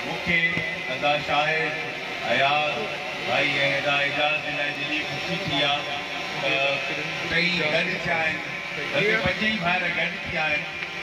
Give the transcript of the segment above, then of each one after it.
مون کي ادا شاهد، اياز ڀائي ۽ ادا اعجاز جي لاء جيڏي خوشي ٿي آ ته ٽئي گڏ ٿيا آهن بلڪه پنج ئي ڀائر گڏ ٿيا آهن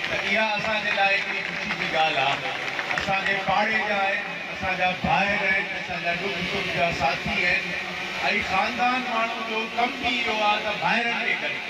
ته اها اسان جي لاء ڪيڏي خوشي جي ڳالهه آ اسان جي پاڙي جا آهن اسان جا ڀائر آهن اسان جا ڏک سک جا ساٿي آهن ۽ خاندان ماڻهو جو ڪم به اهو آ ته ڀائرن کي گڏ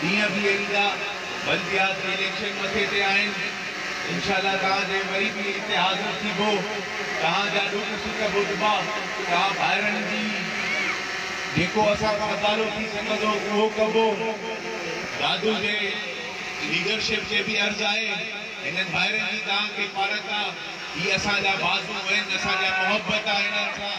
ڏينهن به ايندا بلديات جي اليڪشن مٿي تي آهن انشاء الله توهان جي وري به اتحاد نه ٿيبو توهان جا ڏک سک ٻڌبا توهان ڀائرن جي جيڪو اسان کان ادارو ٿي سگهندو اهو ڪبو دادو جي ليڊرشپ کي به عرض آهي هنن ڀائرن جي توهان کي پارت آ هي اسان جا بازو آهن اسان جا محبت آ هنن سان.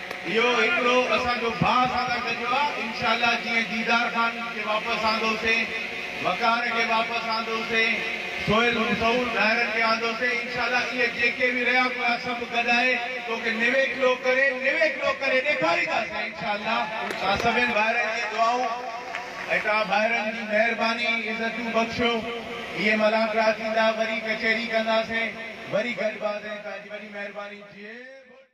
اهو هڪڙو اسان جو ڀاء اسان سان گڏ هو انشاء الله جيئن ديدار خان کي واپس آندوسين وقار کي واپس آندوسين سهيل مشهور ڌائرن کي آندوسين انشاء الله اهي جيڪي به رهيا پيا سڀ گڏائي توکي نويڪلو ڪري نويڪلو ڪري ڏيکارينداسين انشاء الله توهان سڀين ڀائرن جي دعائون ۽ توهان ڀائرن جي مهرباني عزتون بخشيو اهي ملاقات ٿيندا وري ڪچهري ڪنداسين وري گڏباسين توهان جي وڏي مهرباني جي بوڊ.